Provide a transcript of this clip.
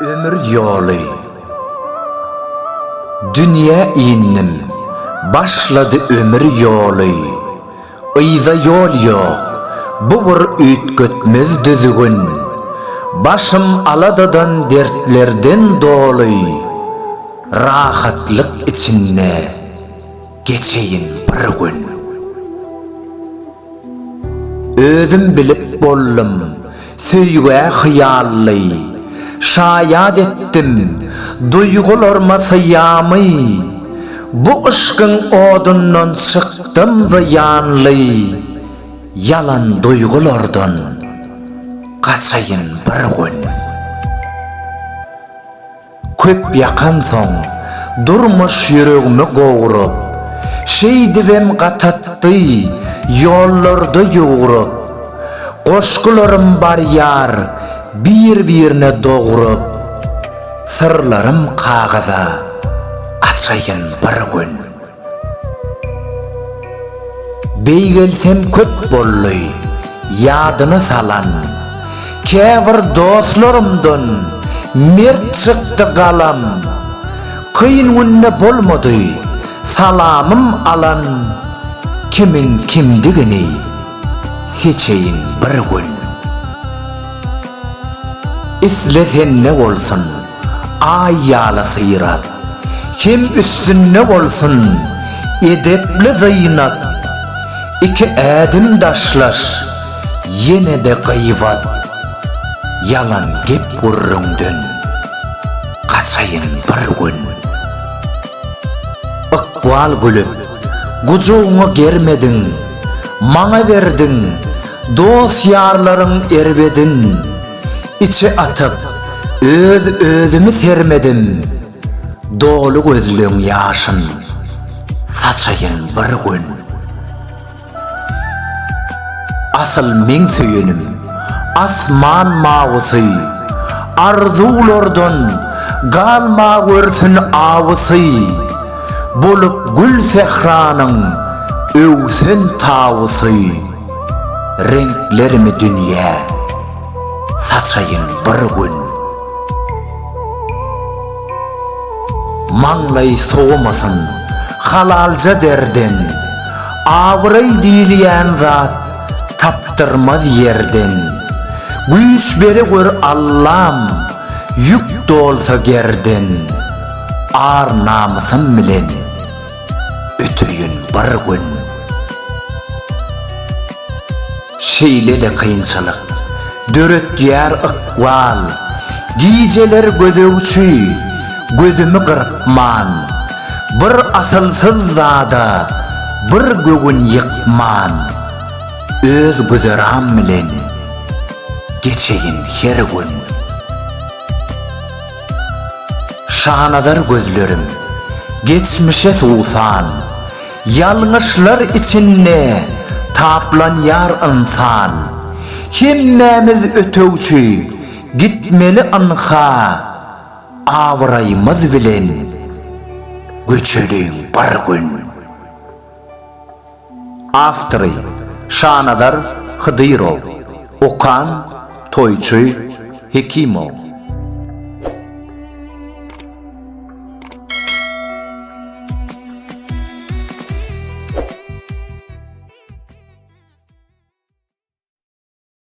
Ömür ýoly Dünýä indim, başlady ömür ýoly. Yza ýol ýok, bu bir üýtgetmez düzgün. Başym aladadan dertlerden doly, Rahatlyk içinde geçeýin bir gün. Özüm bilip boldum, Söýgä hyýally, şaýat etdim, Duýgularyma syýamy. Bu yşkyň odundan çykdym zyýanly, Ýalan duýgulardan gaçaýyn bir gün. Köp ýakansoň, durmuş ýüregimi gowrup, Şeýdibem gatatdy, ýollarda ýugrup. Goşgularym barýar bir-birine dogrup, Syrlarym kagyza, açaýyn bir gün. Beýgelsem köp boldy, ýadyna salan. Käbir dostlarymdan mert çykdy galam. Kyn günde bolmady, salamym alan. Kimiň kimdigini seçeýin bir gün. Isle sende bolsun. Aý ýaly syrat. Hem üstünde bolsun edepli zynat. Iki ädim daşlaş, ýene-de gyýbat. Ýalan gep-gürrüňden gaçaýyn bir gün. Ykbal gülüp, gujagyňa germedin, maňa berdiň, dost-ýarlaryň erbedin. Içe atyp, öz-özümi sermedim, Doly gözleň ýaşyn saçaýyn bir gün. Asyl meň söýenim, asman mawysy, Arzuwlardan galmagörsün awysy, Bolup gül sähranyň öwsen tawusy. Reňklerimi dünýä saçaýyn bir gün. Maňlaý sowamasyn halalja derden, Abraý diýilýän zat tapdyrmaz ýerden. Güýç bere gör Allam, ýük dolsa gerden, Ar-namysym bilen. Öteýin bir gün. Şeýle-de kynçylyk. Döretýär ykbal. Gijeler gözegçi, gözümi gyrpman. Bir asylsyz zada, bir göwün ýykman. Öz güzeran bilen. Geçeýin her gün. Şanazar gözlerim, geçmişe suwsan, Ýalňyşlar içinde taplanýar ynsan. Hemmämiz ötegçi, gitmeli ynha, Abraýymyz bilen göçeliň bir gün. Awtory, Şanazar Hydyrow. Okan, Toýçy Hekimow.